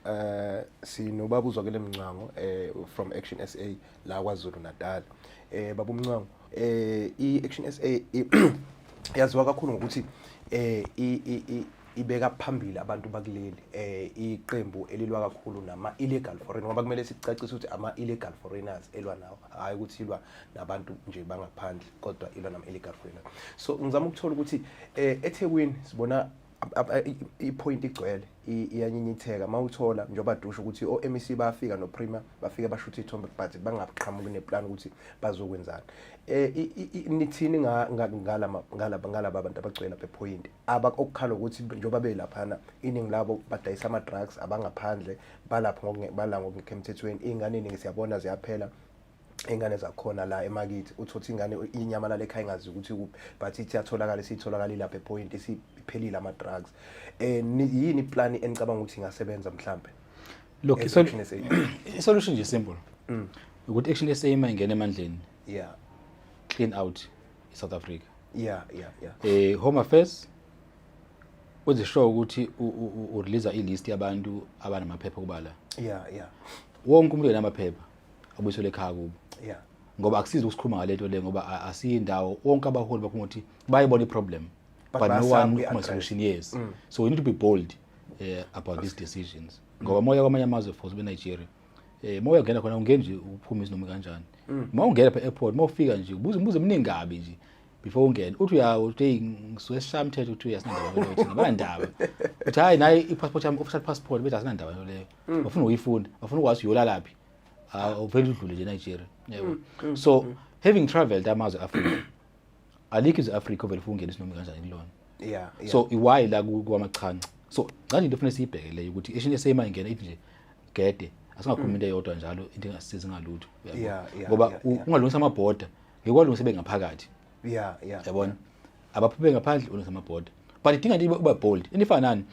eh sinobaba uzwakele mncwango eh from Action SA la kwaZulu Natal eh baba umncwango eh i Action SA yaziwa kakhulu ngokuthi eh ibeka phambili abantu bakuleli eh iqembu elilwa kakhulu nama illegal foreign ngoba kumele sicacise ukuthi ama illegal foreigners elwa nawo hayi ukuthi ilwa nabantu nje bangaphandle kodwa ilwa nama illegal foreigners so ngizama ukuthola ukuthi eh eThekwini sibona ipoint igcwele iyanyinyitheka uma uthola njengoba dusho ukuthi o-mec bafika noprima bafike bashutha ithombe but bangaqhamuki neplan ukuthi bazokwenzani um nithini ngalaba bantu abagcwele lapha ephoyinti okukhala ukuthi njengoba belaphana iningi labo badayisa ama-drugs abangaphandle balapho bala ngokungekho emthethweni iy'ngane iningi siyabona ziyaphela ingane zakhona la emakithi uthi uthi ingane inyamalala ekhaya ingazi ukuthi kuphi but ithi yatholakala isitholakala ilapha epoint isiphelile ama drugs eh yini iplan enicabanga ukuthi ingasebenza mhlambe look isolution nje simple mm. ukuthi action SA ima ingene emandleni yeah clean out i South Africa yeah yeah yeah eh home affairs uze show ukuthi u release i list yabantu abanamaphepha kubala yeah yeah wonke umuntu enamaphepha abuyiselwe ekhaya kubo yeah ngoba akusizi ukusikhuluma ngalento le ngoba asiyindawo wonke abaholi bakhuluma ukuthi bayibona iproblem but, but no one ukhuluma solution yes mm. so we need to be bold uh, about these decisions mm. ngoba moya kwamanye amazwe for be Nigeria eh moya ungena khona ungeni nje uphuma izinoma kanjani mm. uma ungena phe airport uma ufika nje ubuze ubuze eminingi kabi nje before ungene uthi uya uthi ngisuke shamthethe uthi uyasinandaba leyo thina banandaba uthi hayi naye i-passport yami official passport bethi asinandaba leyo mm. bafuna uyifunda bafuna ukwazi uyolalaphi ah, uvele udlule nje Nigeria yebo mm, mm, so having traveled amazwe Africa alikho izwe Africa ovele ufuna ungena isinoma kanjani kulona yeah so iwhy la kwamachanca so ngani into ufuna siyibheke leyo ukuthi eshin esema ingena ithi nje gede asingakhuluma into eyodwa njalo into engasizi ngalutho ngoba ungalungisa ama border ngikwalungisa bengaphakathi yeah yeah yabona abaphuphe ngaphandle ulungisa ama border but idinga nje uba bold enifanani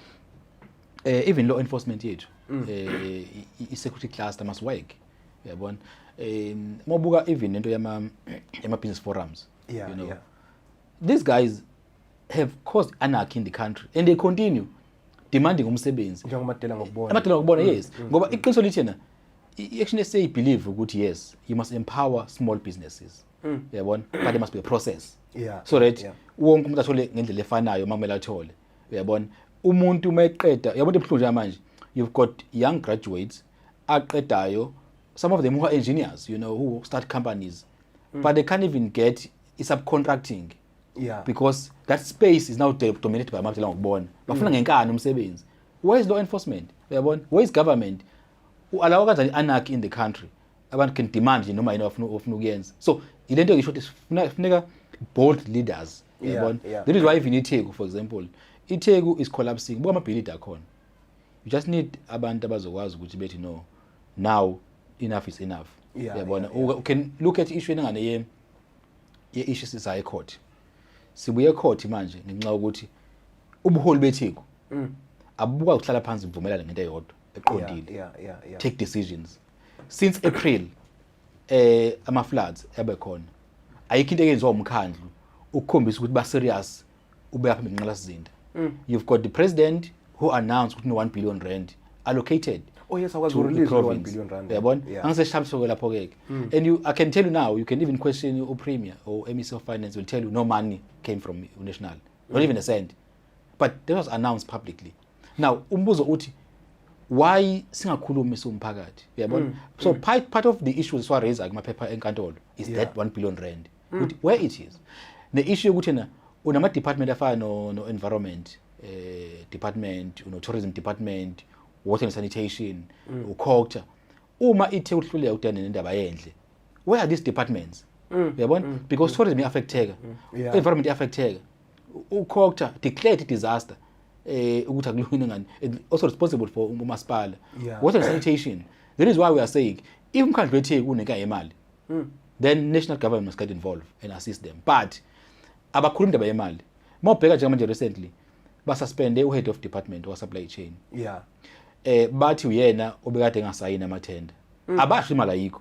eh even law enforcement yethu mm. eh i security cluster must work yabona eh mobuka even into yama yama business forums yeah, you know yeah. these guys have caused anarchy in the country and they continue demanding umsebenzi njengomadela ngokubona amadela ngokubona mm, yes mm, ngoba mm. iqiniso lithi na i-action sa believe ukuthi yes you must empower small businesses yabona but there must be a process yeah so that wonke umuntu athole ngendlela efanayo makumele athole uyabona umuntu uma eqeda uyabona into ebuhlungu njengamanje you've got young graduates aqedayo some of them who are engineers you know who start companies mm. but they can't even get i-subcontracting yeah. because that space is now dominated by amakutela ngokubona bafuna mm. ngenkani umsebenzi where is law enforcement uyabona where is government u-alawa kanjani i-anarchy in the country abantu can demand nje noma yini ofuna ofuna ukuyenza so ilento ngisho ukuthi sifuna funeka bold leaders yabona yeah, yeah. that is why even itheku for example itheku is collapsing buka amabhilidi akhona you just need abantu abazokwazi ukuthi bethi no now enough is enough yabona yeah, yeah, yeah. you can look at issue engane ye ye issue sisa high court sibuye court manje ngenxa yokuthi ubuholi betheku mm. abubuka ukuhlala phansi buvumelana ngento eyodwa eqondile yeah, yeah, yeah, yeah. take decisions since April eh ama floods ebe khona ayikho into eyenziwa umkhandlu ukukhombisa ukuthi ba serious ube apha ngenqala sizinda mm. you've got the president who announced ukuthi no 1 billion rand allocated oh yes akwazi to the release one province. billion rand uyabona Yeah. angiseshamsoko lapho ke mm. and you i can tell you now you can even question u premier or MEC of finance will tell you no money came from national not even a cent but that was announced publicly now umbuzo uthi why singakhulumi siwumphakathi uyabona mm. so mm. part, part of the issues siwa raise kumaphepha enkantolo is yeah. that 1 billion rand mm. ukuthi where it is ne issue ukuthi na unama department afana no, no environment eh department uno tourism department water and sanitation mm. ukhokta uma ithe uhluleka udane nendaba yendle where are these departments mm. uyabona mm. because mm. tourism iaffecteka mm. yeah. environment iaffecteka uCocta declared disaster eh ukuthi akulungile ngani also responsible for umasipala yeah. water sanitation that is why we are saying if umkhandlu wetheku kuneka yemali mm. then national government must get involved and assist them but abakhuluma indaba yemali mawubheka njengamanje recently basuspende uhead of department wa supply chain yeah eh bathi uyena obekade engasayini amathenda mm. abasho imali ayikho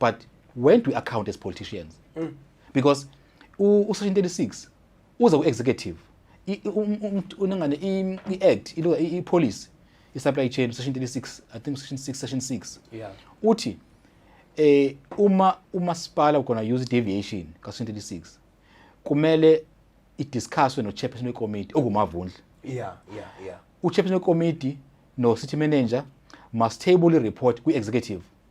but when do we account as politicians mm. because u-section 36 uze ku-executive um, um, unengane i-act i-policy i-supply chain section 36 i think section 6 section 6 yeah. uthi eh uma umasipala ugona use deviation ka section 36 kumele idiscusswe no-chairperson wekomiti ongumavundla yeah, yeah, yeah. uchairperson wekomiti no-city manager must table i-report kwi-executive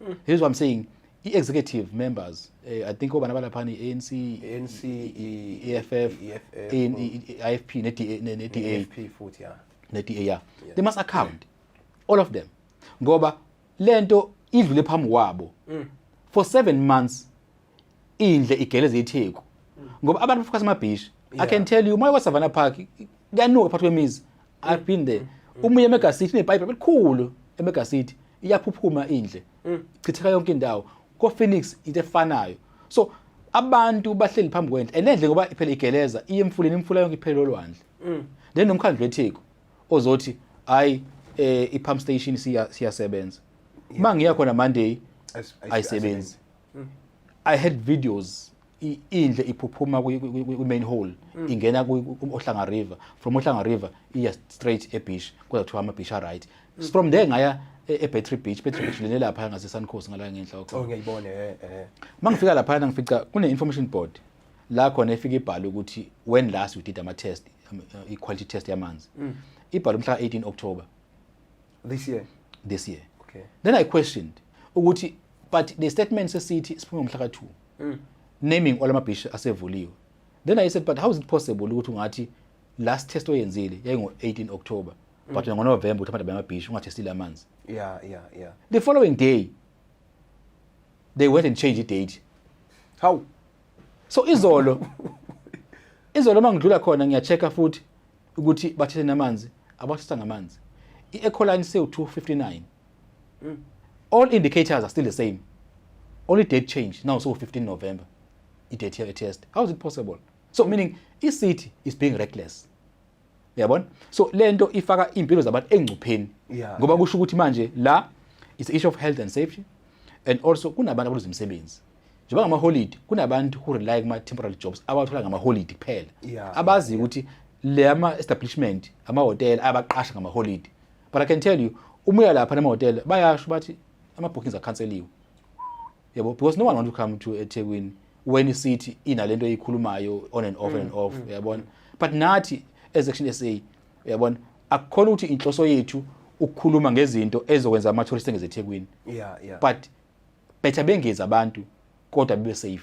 mm. here's what i'm saying i-executive members eh, i think obana balapha ne-anc ANC i-eff i-ifp ne-da futhi ya ne-da ya they must account all of them ngoba lento idlule phambi kwabo mm. for 7 months indle igeleza itheku ngoba abantu bafukasa amabhishi i can tell you umoya wasavana park kuyanuka phakathi kwemizi i've been there umuye emegasiti nepipe elikhulu emegasiti iyaphuphuma indle chitheka yonke indawo ko-phoenix into efanayo so abantu bahleli phambi kwendle and endle ngoba phela igeleza iye emfuleni imfula yonke iphele olwandle then nomkhandlu wetheku ozothi hayi um i-pump station siya- siyasebenza uma ngiya khona monday As- as- ayisebenzi mm. i had videos indle iphuphuma kwi-main hall mm. ingena ohlanga river from ohlanga river iya straight ebeach kodwa kuthiwa ama-beach aright mm. from there ngaya e-, ebattery beach battery beach lene laphaya ngasesuncos ngala ngenhla oh, uma eh, eh. ngifika laphayana ngifica kune-information board la khona efike ibhale ukuthi when last we did ama-test um, uh, i-quality test yamanzi mm. ibhale umhla ka-18 october this year this year okay then i questioned ukuthi but the statement sesithi siphume ngomhla ka 2 mm. naming all ama beach asevuliwe then i said but how is it possible ukuthi ungathi last test oyenzile yayingo 18 October mm. but ngo November uthi abantu bayamabhishi ungathestile amanzi yeah yeah yeah the following day they went and changed the date how so izolo izolo mangidlula khona ngiyachecka futhi ukuthi bathethe namanzi abathetha ngamanzi i-ecoline sewu-259 mm. all indicators are still the same only date change now so 15 november i-date here test how is it possible so meaning i-city is being reckless uyabona so le nto ifaka iy'mpilo zabantu engcupheni ngoba kusho ukuthi manje la it's issue of health and safety and also kunabantu abaluza imisebenzi njengoba ngamaholidi kunabantu who rely kuma-temporary jobs abawathola ngamaholidi kuphela yeah, abazi ukuthi yeah. le ama-establishment amahhotela ayabaqasha ngamaholidi but i can tell you uma uya lapha namahhotela bayasho bathi ama-bookings akhanseliwe yabo because no one want to come to ethekwini when isithi inalento eyikhulumayo on and off mm, and off mm, uyabona mm. but nathi as action sa uyabona akukhona ukuthi inhloso yethu ukukhuluma ngezinto ezokwenza ama-tourist engezethekwini yeah, yeah. but better bengezi abantu kodwa bebe safe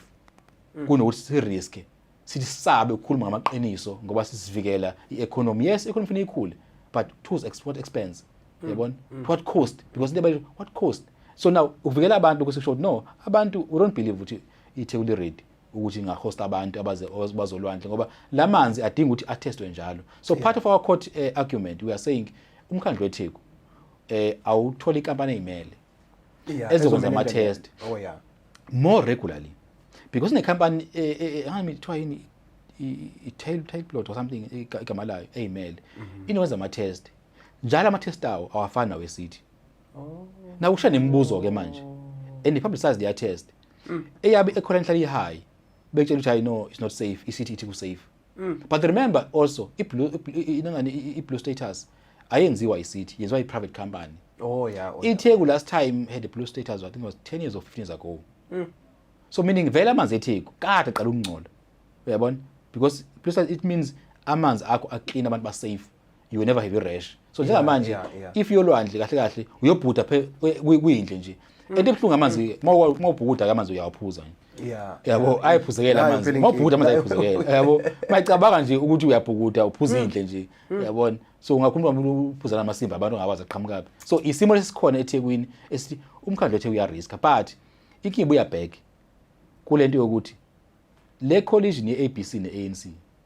mm. kunokuthi si risk sithi sabe ukukhuluma ngamaqiniso ngoba sisivikela i-economy yes i-economy kufanele ikhule but tools export expense mm. yabona mm. what cost because into abayithi what cost so now ukuvikela abantu ukuthi kusho no abantu we don't believe ukuthi iThekwini ready ukuthi ingahosta abantu abaze bazolwandle ngoba lamanzi adinga ukuthi attestwe njalo so yeah. part of our court uh, argument we are saying umkhandlu weTheku eh awutholi inkampani ezimele Yeah, ezokwenza ezomele enze ama-test lento. Oh yeah. more regularly because nekhampani eh, eh, eh, angazi kuthiwa yini i- i- i-tail tail plot or something iga- igama layo eyimele inokwenza ama-test njalo ama-test awo awafani nawesithi nakusha nemibuzo-ke manje and i-publicize their test eyabe ekhona enhlala i-high bekutshela ukuthi hayi no it's not safe isithi ithi ku-safe mm. but remember also iblue inangani iblue status ayenziwa icity yenziwa iprivate company oh yeah oh, itheku yeah. last time had a blue status i think it was 10 years or 15 years ago mm. so meaning vele amanzi etheku kade qala ukungcola uyabona because blue status it means amanzi akho aclean abantu basafe you will never have your rash so njengamanje yeah, yeah. if yolwandle kahle kahle uyobhuda phe kwindle nje mm. ento ebuhlungu amanzi ke uma ubhukuda ke amanzi uyawaphuza nje yeah yabo ayiphuzekela amanzi uma ubhukuda amanzi ayiphuzekela yabo mayicabanga nje ukuthi uyabhukuda uphuza mm. indle nje mm. yabona so ungakhuluma umuntu uphuza namasimba abantu ngawazi aqhamukapi so isimo lesikhona eThekwini esithi umkhandlo ethe uya risk but inkinga ibuya back kulento yokuthi le collision ye ABC ne ANC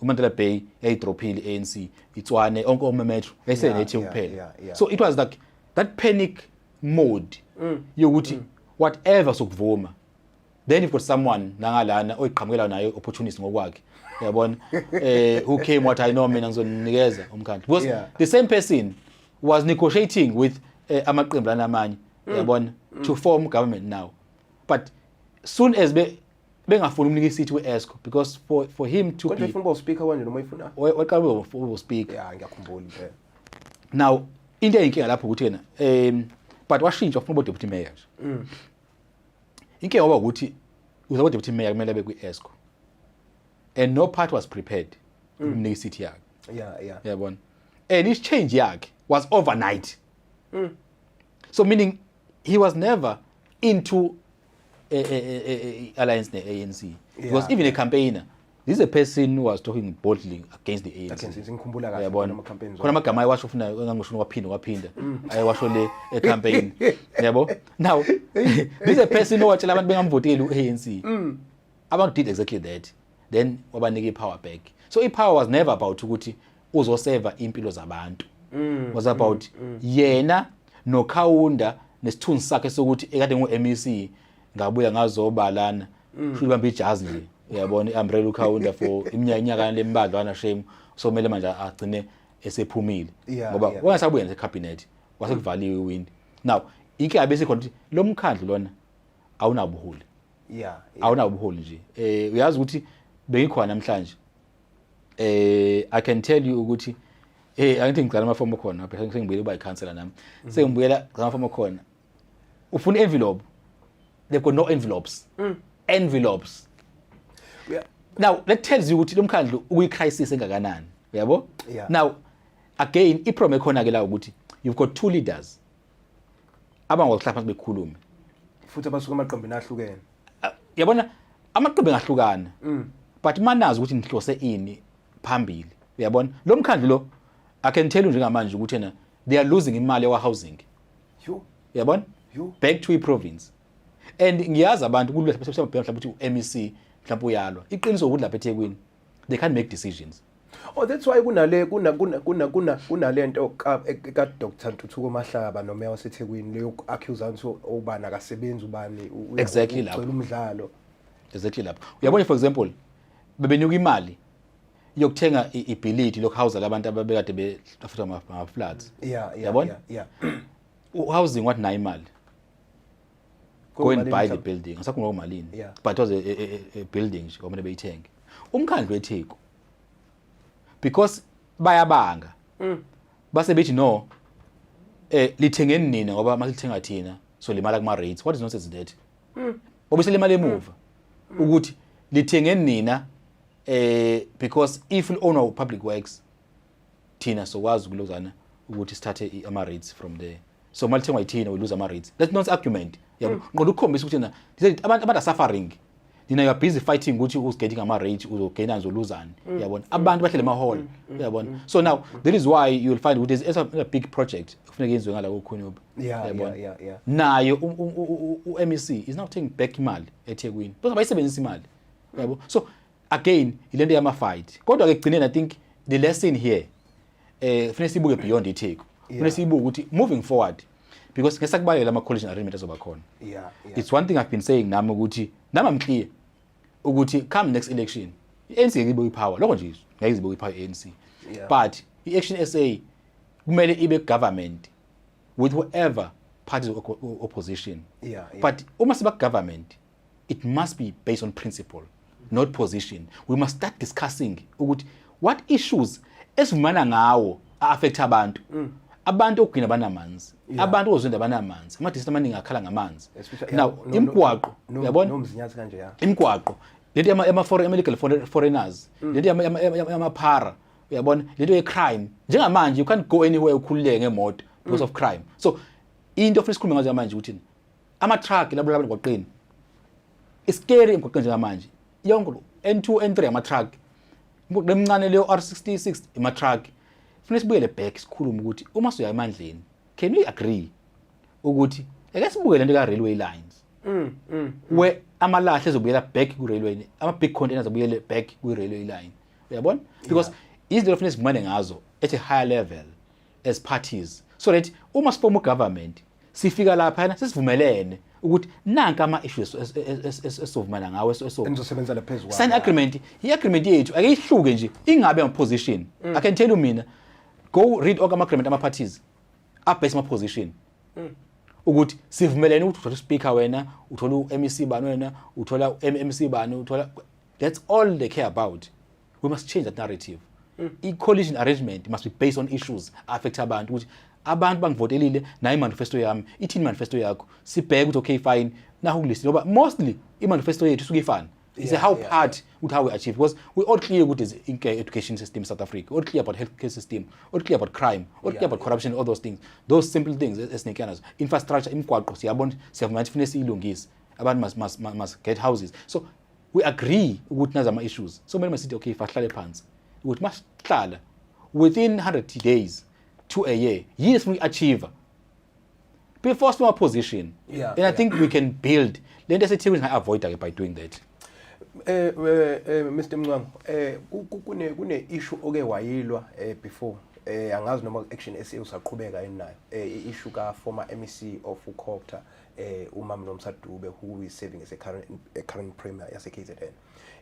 uMandela Bay yayidrophile ANC itswane onke omemetro esenethi yeah, kuphela yeah, yeah, so it was like that panic mode mm. yokuthi mm. whatever sokuvuma then you've got someone nangalana oyiqhamukela naye opportunist ngokwakhe yabona eh who came what i know mina ngizonikeza umkhandlu because yeah. the same person was negotiating with eh, amaqembu lanamanye mm. yabona mm. to form government now but soon as be bengafuni umnika isithi kwi-esco because for, for him to kodwa ifuna uba uspeaker kwanje noma ifuna waqala uba uspeaker ya ngiyakhumbula impela now into eyinkinga lapho ukuthi yena um but washintsha ufuna uba deputy mayor nje mm. inkinga waba ukuthi uzaba deputy mayor kumele abe kwi-esco and no part was prepared mm. ukumnika isithi yakhe yeah yeah yabona and his change yakhe was overnight mm. so meaning he was never into eh, eh, eh, eh, eh, alliance ne-anc because even a campaigner this is a person who was talking boldly against the anc Against it, ngikhumbula kahle Uyabona? khona ama-campaigns khona amagama ayewasho funa engangoshuni waphinda waphinda Mm. ayewasho le ecampaign yabo now this is a person owatshela abantu bengamvoteli u-anc Mm. abantu did exactly that then wabanika i-power back so i-power was never about ukuthi uzoseva impilo zabantu mm, was about mm, mm. yena nokhawunda nesithunzi sakhe sokuthi ekade ngu-MEC ngabuya ngazobalana mm. shuthi bambe ijazi nje uyabona i-umbrella ukhawunda for iminyaka inyakana lembadlwana shame so kumele manje agcine esephumile Yeah, ngoba yeah. wangasabuya nje ekhabhinethi wasekuvaliwe iwindi now inkinga bese khona ukuthi lo mkhandlu lona awunabuholi yeah, yeah. awunabuholi nje eh uyazi ukuthi bengikhona namhlanje eh i can tell you ukuthi eh angithi ngicela amafomu khona phela ngibuyela uba icounselor nami mhm. sengibuyela ngicela amafomu khona ufuna envelope they've got no envelopes mm. envelopes yeah. now that tells you ukuthi lo mkhandlu uyicrisis engakanani uyabo yeah. now again iproblem ekhona ke la ukuthi you've got two leaders abangakwazi ukuhlala phansi bekhulume futhi abasuka amaqembini ahlukene Ah, yabona amaqembu engahlukana Mm. but manazi ukuthi nihlose ini phambili uyabona lo mkhandlu lo i can tell you njengamanje ukuthi yena they are losing imali yakwa-housing yo uyabona Yo. back to i-province and ngiyazi abantu kulula mhlawumbe ukuthi u-mec mhlawumbe uyalwa iqiniso ukuthi lapha ethekwini they can't make decisions Oh that's why kunale kuna kuna kuna kuna kunalento ka ka Dr Ntuthuko Mahlaba nomeya waseThekwini leyo accuse anti obani akasebenzi ubani exactly lapho umdlalo exactly lapho uyabona for example bebenyuka imali yokuthenga ibhilidi lokuhawuza labantu ababekade befuthwa ngama floods yeah yeah yabona yeah housing what nayo imali go and buy the building ngisakhuluma ngomalini yeah. but was a, a, a, a building nje kwamele beyithenge umkhandlu wetheku because bayabanga mm. base bethi no eh lithengeni nina ngoba masithenga thina so limala kuma rates what is nonsense that mm. obese limala emuva mm. ukuthi lithengeni nina eh because if you own our public works thina sokwazi ukulozana ukuthi sithathe ama rates from there so mali thengwa yithina we lose ama rates that's not argument yabo ngoba ukukhombisa ukuthi na abantu abantu suffering nina you are busy fighting ukuthi who's getting ama rate uzogaina uzoluzani mm. yabona abantu bahlele ma hall mm. Mm. yabona so now that is why you will find ukuthi there's a big project kufuneka yenziwe ngala kokhonyuba yabona naye u-MEC is now taking back imali eThekwini because bayisebenzisa imali yabo so again ilento yama fight kodwa ke kugcineni i think the lesson here eh kufanele sibuke beyond itheku kufanele sibuke ukuthi moving forward because ngeke sakubalekela ama collision arrangement azoba khona yeah, yeah it's one thing i've been saying nami ukuthi nami i'm clear ukuthi come next election i-ANC ngeke ibuye ipower lokho nje ngeke izibuye ipower i-ANC yeah. but i-action SA kumele ibe government with whoever parties of opposition yeah, yeah. but uma siba government it must be based on principle not position we must start discussing ukuthi what issues esivumana ngawo affect abantu mm. abantu okugcina banamanzi yeah. abantu ozwenda banamanzi ama district amaningi akhala ngamanzi now imgwaqo uyabona no, no, no, kanje ya imgwaqo lento yama yama foreign illegal foreigners mm. lento yama yama para uyabona lento ye crime njengamanje you can't go anywhere ukhululeke ngemoto because mm. of crime so into ofisa ukukhuluma ngazo manje ukuthi Ama-truck labulala abantu emgwaqeni. Isikeri emgwaqeni njengamanje. Yonke N2, N3 ama-truck. Imgwaqo emincane leyo R66 ama-truck. Funa sibuyele back sikhulume ukuthi uma siya emandleni, can we agree ukuthi ake sibuke lento ka railway lines. Mm, mm. Where amalahle ezobuyela back ku railway, ama big containers abuyele back ku railway line. Uyabona? Because izinto lofuna sivumane ngazo at a higher level. as parties so that uma sifoma ugovernment sifika laphana sesivumelene ukuthi nanka ama issues esovumana ngawo esizosebenza laphezulu sign agreement i agreement yethu ake ihluke nje ingabe ama position mm. i can tell you mina go read all ama agreement ama parties abase ama position mm. ukuthi sivumelene ukuthi uthola speaker wena uthola uMEC bani wena uthola uMEC bani uthola that's all they care about we must change that narrative mm. i-coalition arrangement must be based on issues affect abantu ukuthi abantu bangivotelile nayo imanifesto yami ithini manifesto yakho sibheke ukuthi okay fine naho kulist ngoba mostly imanifesto yethu isuke ifana is yeah, how yeah, part yeah. with how we achieve because we all clear with this education system South Africa all clear about healthcare system all clear about crime all yeah, clear about yeah. corruption all those things those simple things esinike nazo infrastructure imigwaqo siyabona siyavuma ukuthi funeka siyilungise abantu must, must, must get houses so we agree ukuthi nazi ama-issues so kumele masithi okay fahlale phansi ukuthi masihlala within 100 days to a year yini sifuna uyi-achieve before sima position yeah, and i yeah. think we can build le nto esethi singayi-avoida-ke by doing that eh, eh, eh Mr Mncwango eh kune kune issue oke wayilwa eh before eh angazi noma action SA usaqhubeka yini nayo eh issue ka former MEC of uCopter eh umam nomsa Dube who is serving as a current a current premier yase KZN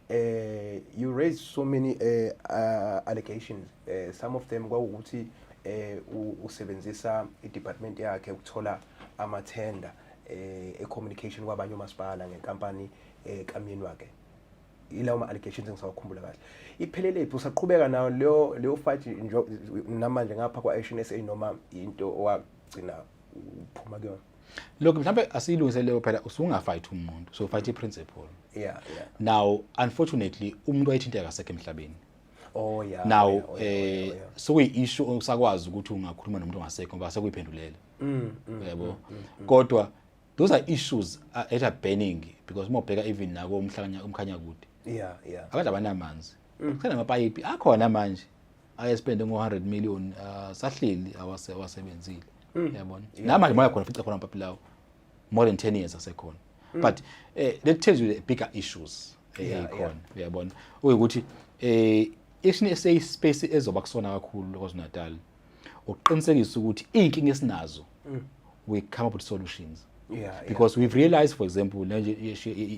eh you raised so many uh, uh, allegations uh, some of them kwawukuthi eh usebenzisa i-department yakhe ukuthola amathenda eh e-communication kwabanye omasipala ngenkampani eh kamyeni wakhe ilawo ma-allegations engisawakhumbula kahle ipheleliphi usaqhubeka nayo leyo leyo fight namanje ngapha kwa-action sa noma into owagcina uphuma ke lokho mhlambe asiyilungise leyo phela usungafight umuntu so fight iprinciple yeah yeah now unfortunately umuntu wayithinteka kasekho emhlabeni oh yeah now oh, yeah, oh, yeah, eh oh, yeah. sokuyi issue osakwazi ukuthi ungakhuluma nomuntu ongasekho ngoba sekuyiphendulela mm, mm, yebo mm, mm, mm. kodwa those are issues uh, that are burning because uma ubheka even nako umhlanya umkhanya kude yeah yeah abantu abanamanzi mm. kusenamapayipi akhona manje ayespende ngo 100 million uh, sahleli awase wasebenzile mm. yabona yeah. nama moya khona fica khona papilawo more than 10 years asekhona mm. but eh, that tells you the bigger issues eh, yeah, ekhona yeah. yabona ukuthi eh isini esay space ezoba kusona kakhulu KwaZulu-Natal ukuqinisekisa ukuthi inkinga esinazo mm. we come up with solutions yeah, because yeah. we've realized for example nje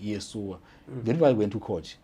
yesuwa mm. then why went to coach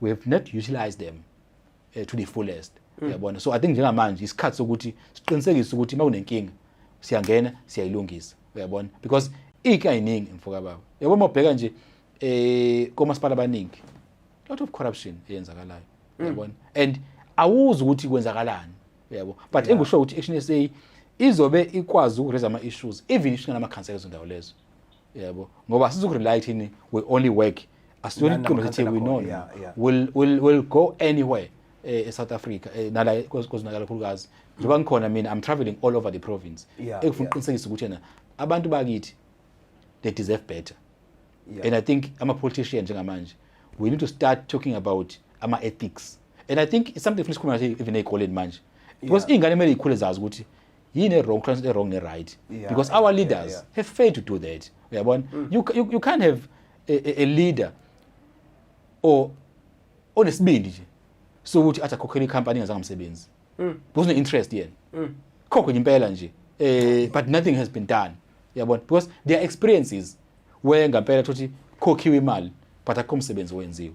we have not utilized them uh, to the fullest mm. yabona so i think njengamanje isikhathi sokuthi siqinisekise ukuthi uma kunenkinga siyangena siyayilungisa uyabona because ike ayiningi mfoka baba yabo uma ubheka nje eh komasipala abaningi lot of corruption eyenzakalayo mm. uyabona and awuzi ukuthi kwenzakalani uyabo but engisho ukuthi action SA izobe ikwazi ukuraise ama issues even ishingana ama council ezondawo lezo yebo ngoba sizokurely thini we only work asiyona iqembu sithi we know yeah, yeah. will will will go anywhere eh, eSouth Africa eh, nala kozinakala kakhulukazi njengoba ngikhona mina i'm traveling all over the province yeah, ekufuna ukuqinisekisa ukuthi yena abantu bakithi they deserve better yeah. and i think ama politician njengamanje we need to start talking about ama ethics and i think it's something funa sikhuluma ngathi even ezikoleni manje because yeah. ingane kumele ikhule zazi ukuthi yini wrong translate wrong ne right yeah, because our yeah, leaders yeah, yeah. have failed to do that uyabona mm. you, you, you can't have a, a, a leader or onesibindi nje so ukuthi athi akhokhele icompany ngazange umsebenzi mm. because no interest yena mm. khokho impela nje eh but nothing has been done uyabona because their experiences where ngampela thothi khokhiwe imali but akho umsebenzi owenziwe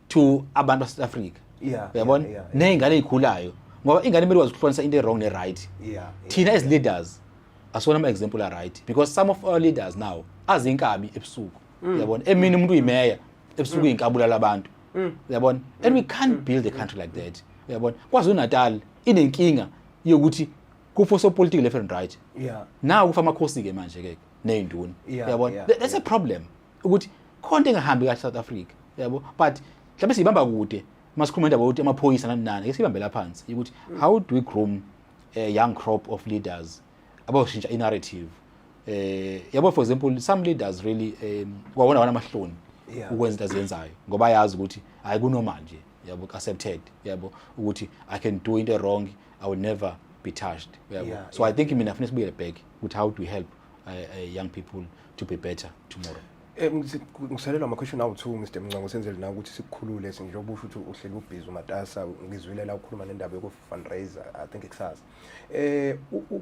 to abantu base Africa yeah uyabona yeah, yeah, yeah. nezingane ezikhulayo ngoba ingane imele wazi ukuhlonisa into wrong ne right yeah, yeah thina as leaders asona ama example are right because some of our leaders now azinkabi ebusuku mm. uyabona emini umuntu uyimeya ebusuku mm. inkabula labantu mm. uyabona and we can't mm. build a country like that uyabona kwazi uNatal inenkinga yokuthi kupho so political left and right yeah now kufa amakhosi ke manje ke nezinduna uyabona that's a problem ukuthi khona into engahambi kahle South Africa yabo but mhlawumbe siyibamba kude masikhuluma indaba yokuthi amaphoyisa nani nani ke sibambela phansi ukuthi how do we groom a young crop of leaders abawushintsha i-narrative eh yabo for example some leaders really um kwawona wana amahloni ukwenza into azenzayo ngoba ayazi ukuthi hayi kunormal nje yabo accepted yabo ukuthi i can do into wrong i will never be touched yabo so i think mina ngifuna sibuye back ukuthi how do we help uh, uh, young people to be better tomorrow Eh, ngisalelwa amakhweshini awu-two mr mncango senzele na ukuthi sikukhulule njengoba usho ukuthi uhleli ubhizi umatasa ngizwile la ukhuluma nendaba yoku-fundraiser i think kusasa eh, um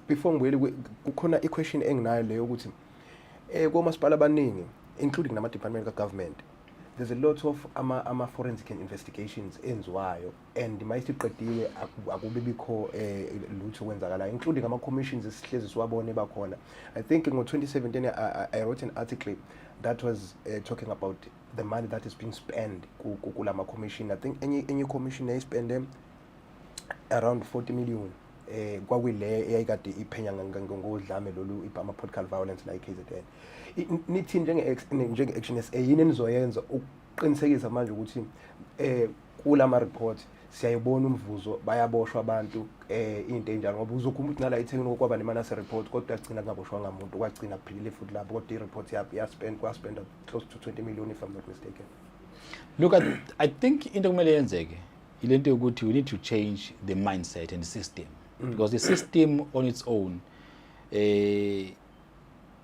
before ngibuyele kukhona i-question enginayo leyo ukuthi um komasipala abaningi including nama-department ka-government there's a lot of ama-forensic ama and investigations enziwayo and uma isiqediwe akube bikho eh, lutho kwenzakalayo including ama commissions esihlezi siwabone bakhona i think ngo 2017 I, I wrote an article that was uh, talking about the money that is being spent kulama commission i think any any commission they spend them around 40 million eh kwakuyile eyayikade iphenya ngodlame lolu ibhama political violence la eKZN nithi njenge njenge action SA yini enizoyenza qinisekisa manje ukuthi eh kula ma report siyayibona umvuzo bayaboshwa abantu eh into enjalo ngoba uzokhumba ukuthi nala ithengini kokwaba nemana se report kodwa agcina kungaboshwa ngamuntu kwagcina kuphilile futhi lapho kodwa i report yabo ya spend kwa spend close to 20 million if i'm not mistaken look at, i think into kumele yenzeke ilento yokuthi we need to change the mindset and system mm. because the system on its own eh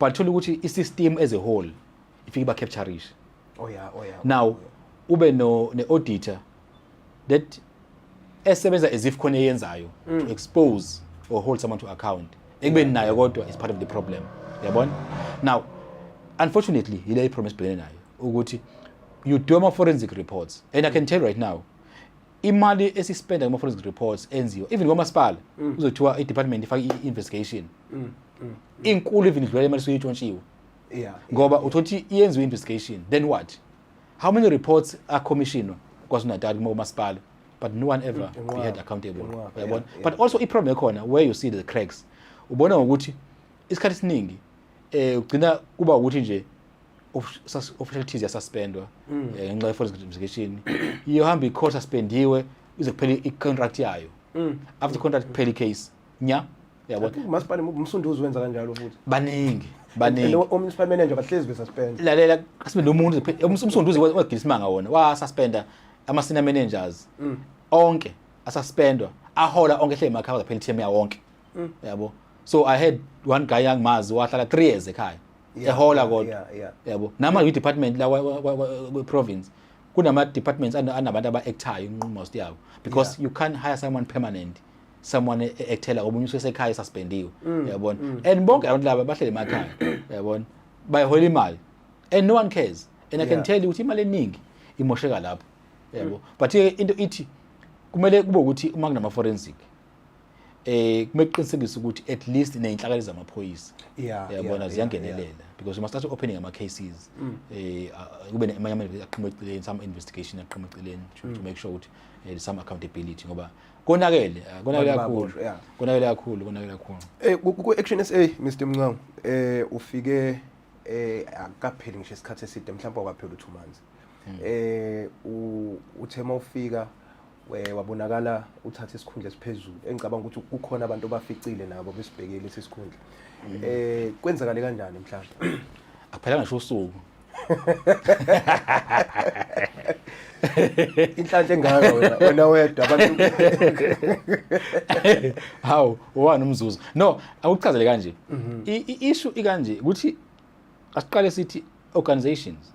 but thola ukuthi i-system as a whole ifike iba captureish oh yeah oh yeah now oh yeah. ube no ne auditor that esebenza as if khona eyenzayo mm. to expose or hold someone to account ekubeni nayo kodwa is part of the problem yabona now unfortunately yile problem esibhekene nayo ukuthi you do ama forensic reports and i can tell right now imali esispenda kuma forensic reports enziwa even kwamasipala mm. uzothiwa i department ifaka i investigation mm, mm, mm. inkulu even idlula imali suyitshontshiwe yeah ngoba uthothi iyenziwe investigation then what how many reports are commissioned kwaZulu Natal kuma masipala but no one ever mm, be held accountable uyabona yeah, yeah. but also i problem ekhona where you see the cracks ubona ngokuthi isikhathi siningi eh ugcina kuba ukuthi nje official tease yasuspendwa mm. eh, ngenxa ye foreign investigation iyohamba icourt suspendiwe ize kuphela i-contract yayo mm. after contract kuphela i-case nya yabo umasipala umsunduzi wenza kanjalo futhi baningi baningi omunicipal manager bahlezi besuspend lalela asibe nomuntu umsunduzi wagila isimanga wona wasuspenda ama-senior managers mm. onke asuspendwa ahola onke ehleli emakhaya kuphela i-team yawonke yabo so i had one guy angimazi wahlala 3 years ekhaya ehola kodwa yabo nama department la kwe province kunama departments anabantu aba actayo most yabo because you can't hire someone permanent someone e-, ekuthela omunye usesekhaya esuspendiwe mm, yabona mm. and bonke abantu laba bahlele emakhaya yabona bayihola imali and no one cares and i can tell you ukuthi imali eningi imosheka lapho yabo mm. but into ithi kumele kube ukuthi uma kunama forensic eh kumele kuqinisekise ukuthi at least nezinhlakali zamaphoyisa yabona ziyangenelela because you must start opening ama cases mm. eh kube amanye amanye aqhamuka eceleni some investigation aqhamuka eceleni to mm. make sure ukuthi eh, some accountability ngoba konakele eh, konakele kakhulu konakele kakhulu konakele kakhulu eh ku action SA Mr Mncango eh ufike eh akapheli ngisho isikhathi eside mhlawumbe akapheli u2 months mm. eh uthema ufika we wabonakala uthatha isikhundla esiphezulu engicabanga ukuthi kukhona abantu abaficile nabo besibhekile lesi sikhundla mm. eh kwenzakale kanjani mhlawumbe akuphelanga ngisho usuku inhlanhla engaka wena wena wedwa abantu hawu wani umzuzu no awuchazele kanje mhm. i issue ikanje ukuthi asiqale sithi organizations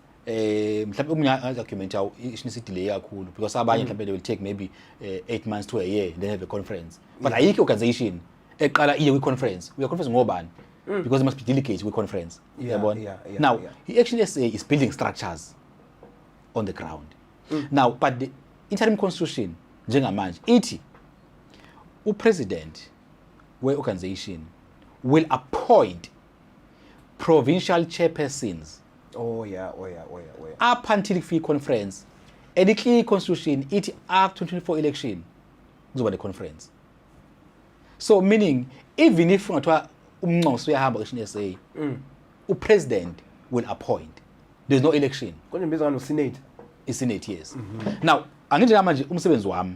eh mhlawumbe umunye argument yawo ishinisa idelay kakhulu because abanye mm. mhlawumbe they will take maybe 8 eh, months to a year then have a conference but ayikho organization eqala iye kwi conference uya conference ngobani mm. because it must be delegate kwi conference yabona now i action SA is building structures on the ground mm. now but the interim constitution njengamanje ithi upresident we organization will appoint provincial chairpersons oh yeah oh yeah oh yeah oh yeah up until kufike conference elikli constitution ithi after 2024 election kuzoba ne conference so meaning even if ungathiwa umnxoso uyahamba kushin SA mm. u president will appoint there's no election konje mbiza ngano senate i senate yes mm -hmm. now angithi manje umsebenzi wami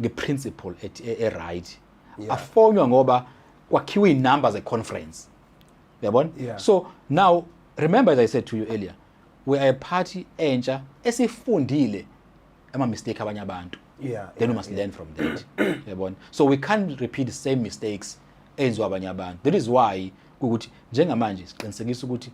ngeprinciple e-right yeah. afonywa ngoba kwakhiwe iy'number ze-conference yabona yeah. so now remember as i said to you earlier we are a party entsha esifundile ama-mistake abanye abantu yeah, then yeah, we must yeah. learn from that yabona so we can't repeat the same mistakes enziwa abanye abantu that is why ukuthi njengamanje siqinisekisa ukuthi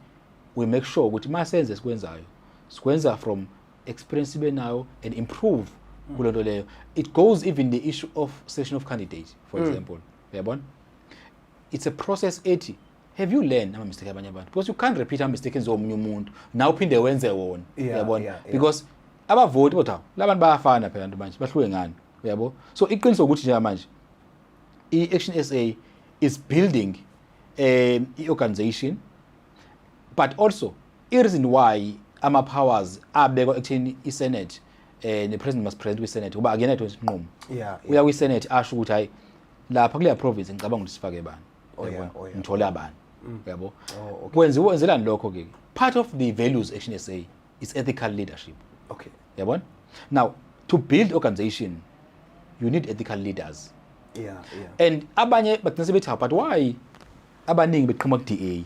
we make sure ukuthi uma senze sikwenzayo sikwenza from experience benayo and improve mm. kulento leyo it goes even the issue of selection of candidate for mm. example uyabona it's a process ethi have you learned ama mistake abanye abantu because you can't repeat ama mistake enziwa omunye umuntu na uphinde wenze wona uyabona yeah, yeah. because abavoti kodwa labantu bayafana phela abantu manje bahluke ngani uyabo so iqiniso ukuthi nje manje i-action sa is building um i-organization but also I-reason why ama-powers abekwa ekutheni i-senate eh ne-president must present kwi-senate kuba akuyena yedwa isinqumo Yeah, uya kwi-senate asho ukuthi hayi lapha kuleya province ngicabanga ukuthi sifake bani Oh, yeah, Yabona? oh, yeah. Mm. ngithole abani yabo Oh, okay. kwenziwa kwenzelani lokho ke part of the values action sa is ethical leadership Okay. yabona now to build organization you need ethical leaders Yeah, yeah. and abanye bagcina sebethi "Hawu, but why abaningi beqhuma ku-da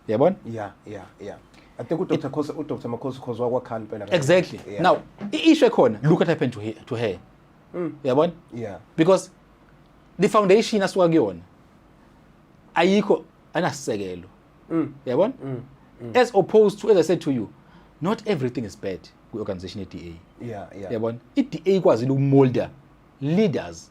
yabona yeah yeah yeah I think uDr Khosi uDr Makhosi Khosi wakwakhani impela exactly yeah. now i-issue ekhona look what happened to her, to her. Mm. yabona yeah because the foundation asuka kuyona ayikho anasisekelo mm. yabona mm. mm. as opposed to as i said to you not everything is bad kwi-organization ye-da yeah, yeah. yabona i-da ikwazile ukumolda leaders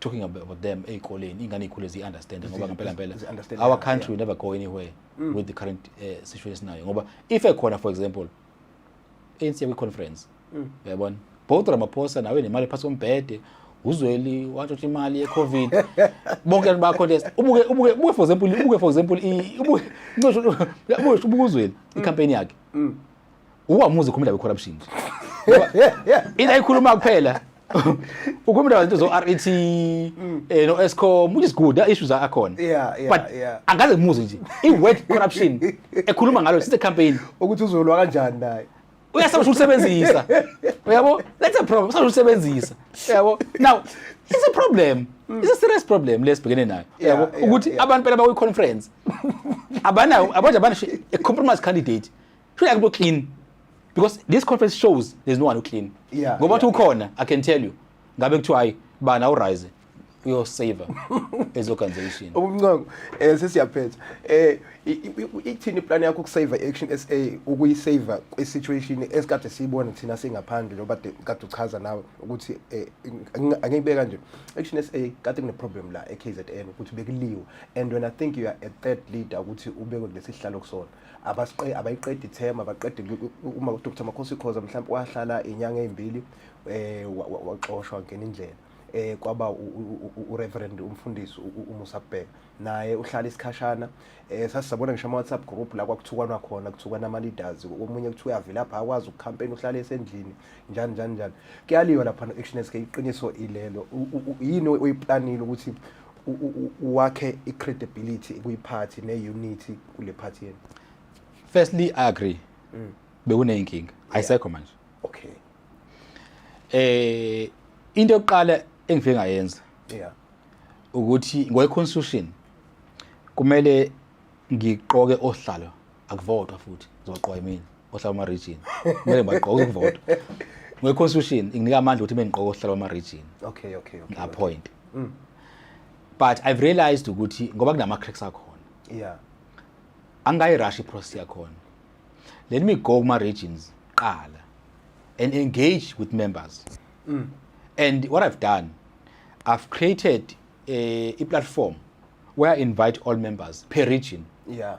talking about them ey'koleni ingane iy'khule ziyi-understand ngoba ngempela mpela our country yeah. never go anywhere mm. with the current uh, situation esinayo ngoba if ekhona for example ANC kwi-conference mm. uyabona mm. both ramaphosa nawe nemali phasi kombhede uzweli watshotha imali yecovid bonke abantu bacontest ubuke ubuke ubuke for example ubuke for example ubuke ubuke uzweli mm. icampaign yakhe mm. uwamuzi khumela we corruption ila ikhuluma kuphela ukhuluma abantu zo RET mm. eh no Escom which is good the issues are akhona yeah yeah but yeah. angaze muzi nje i word corruption ekhuluma ngalo since the campaign ukuthi uzolwa kanjani naye uyasaba ukusebenzisa uyabo that's a problem usaba ukusebenzisa uyabo now it's a problem mm. it's a serious problem lesibhekene nayo uyabo ukuthi abantu phela bakuyi conference abanayo abanje abana a compromise candidate Shouldn't have to clean because this conference shows there's no one who clean. Yeah. Ngoba yeah. ukhona, I can tell you. Ngabe kuthiwa hayi bana urise uyosaver as organization. Ubunqoko eh sesiyaphetha. Eh ithini plan yakho ukusaver action SA ukuyisaver kwisituation esikade siyibona thina singaphandle loba kade uchaza nawe ukuthi eh, angiyibeka nje. Action SA kade kune problem la eKZN ukuthi bekuliwa and when I think you are a third leader ukuthi ubekwe kulesihlalo kusona. abasiqe abayiqedi ithema baqede uma uDr Makhosi Khoza mhlawumbe wahlala inyanga ezimbili eh waxoshwa ngene indlela eh kwaba uReverend umfundisi uMusa Bheka naye uhlala isikhashana eh sasizabona ngisho ama WhatsApp group la kwakuthukwana khona kuthukwana ama leaders omunye kuthiwa yavela lapha akwazi ukucampaign uhlale esendlini njani njani njani kuyaliwa lapha no action SK iqiniso ilelo yini oyiplanile ukuthi wakhe i-credibility kuyiphathi ne-unity kule phathi yenu firstly i agree mm. bekuneyinkinga ayisekho manje okay eh into yokuqala engifike ngayenza yeah ukuthi ngokwe-constitution kumele ngiqoke ohlalo akuvotwa futhi ngizogqwa yimina ohlala ama region kumele ngibagqoke ukuvota ngwe constitution inginika amandla ukuthi bengigqoke ohlala ama region okay okay okay appoint okay. Mm. but i've realized ukuthi ngoba kunama cracks akhona yeah angayi rush process yakhona let me go kuma regions qala and engage with members mm. and what i've done i've created a, a platform where i invite all members per region yeah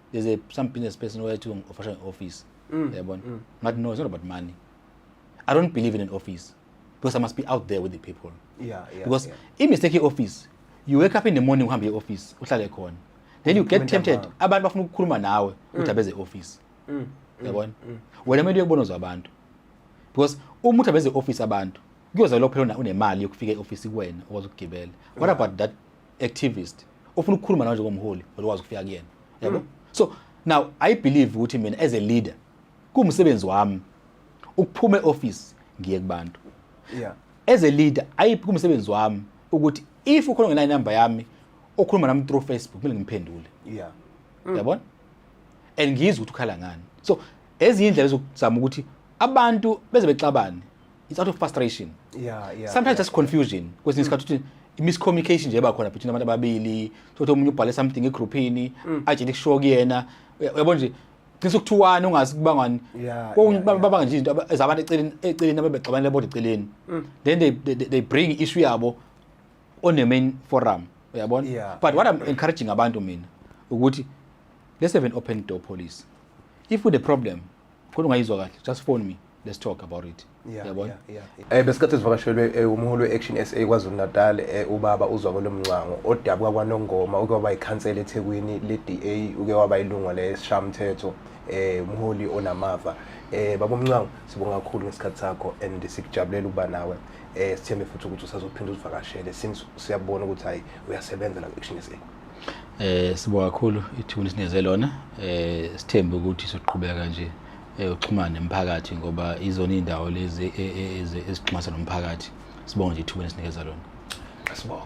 there's a some business person where to offer an office mm. yeah, mm. but no it's not about money i don't believe in an office because i must be out there with the people yeah, yeah, because yeah. imistake office you wake up in the morning uhambe e-office uhlale khona then you get tempted abantu bafuna ukukhuluma nawe mm. udaba eze-office mm. mm. yabona wena kumele uyekubona uzwa abantu because uma udaba eze-office abantu kuyoza lophela unemali yokufika e-office kuwena okwazi ukugibela what about that activist ofuna ukukhuluma nawe njengomholi olwazi ukufika kuyena yabo mm. so now i believe ukuthi mina as a leader kumsebenzi wami ukuphuma eoffice ngiye kubantu yeah as a leader ayi kumsebenzi wami ukuthi if ukhona ngena number yami okhuluma nami through facebook mina ngimphendule yeah mm. yabona and ngizwe ukuthi ukhala ngani so ezinye indlela zokuzama ukuthi abantu beze bexabane it's out of frustration yeah yeah sometimes yeah, just confusion kwesinye isikhathi ukuthi miscommunication nje eba khona between abantu ababili sokuthi omunye ubhale something egrouphini mm. ajele kusho kuyena uyabo nje cishe ukuthiwani ungazi kuba ngani babanga nje izinto ezabantu eceleni eceleni abebexabanele bodwa eceleni mm. then they, they, they bring issue yabo on the main forum uyabona yeah. but what i'm encouraging abantu mina ukuthi let's have an open door policy if with the problem Kodwa ungayizwa kahle. Just phone me. Let's talk about it. Yeah, Yabona? yeah, yeah, yeah. Eh besikhathi sivakashelwe eh, umholi we-Action SA KwaZulu Natal eh, ubaba uzwa kolomncango odabuka kwaNongoma uke waba ikhansela eThekwini leDA uke waba ilungu leshamthetho eh umholi onamava eh baba Mncango sibonga kakhulu ngesikhathi sakho and sikujabulela ukuba nawe eh sithembe futhi ukuthi usazophinda usivakashele since siyabona ukuthi hayi uyasebenza la ku-Action SA Eh sibonga kakhulu ithuni sineze lona eh sithembe ukuthi soqhubeka nje eh, uxhumana nemphakathi ngoba izona indawo lezi e, e, e, ezixhumana nomphakathi sibonga nje ithuba esinikeza lona sibonga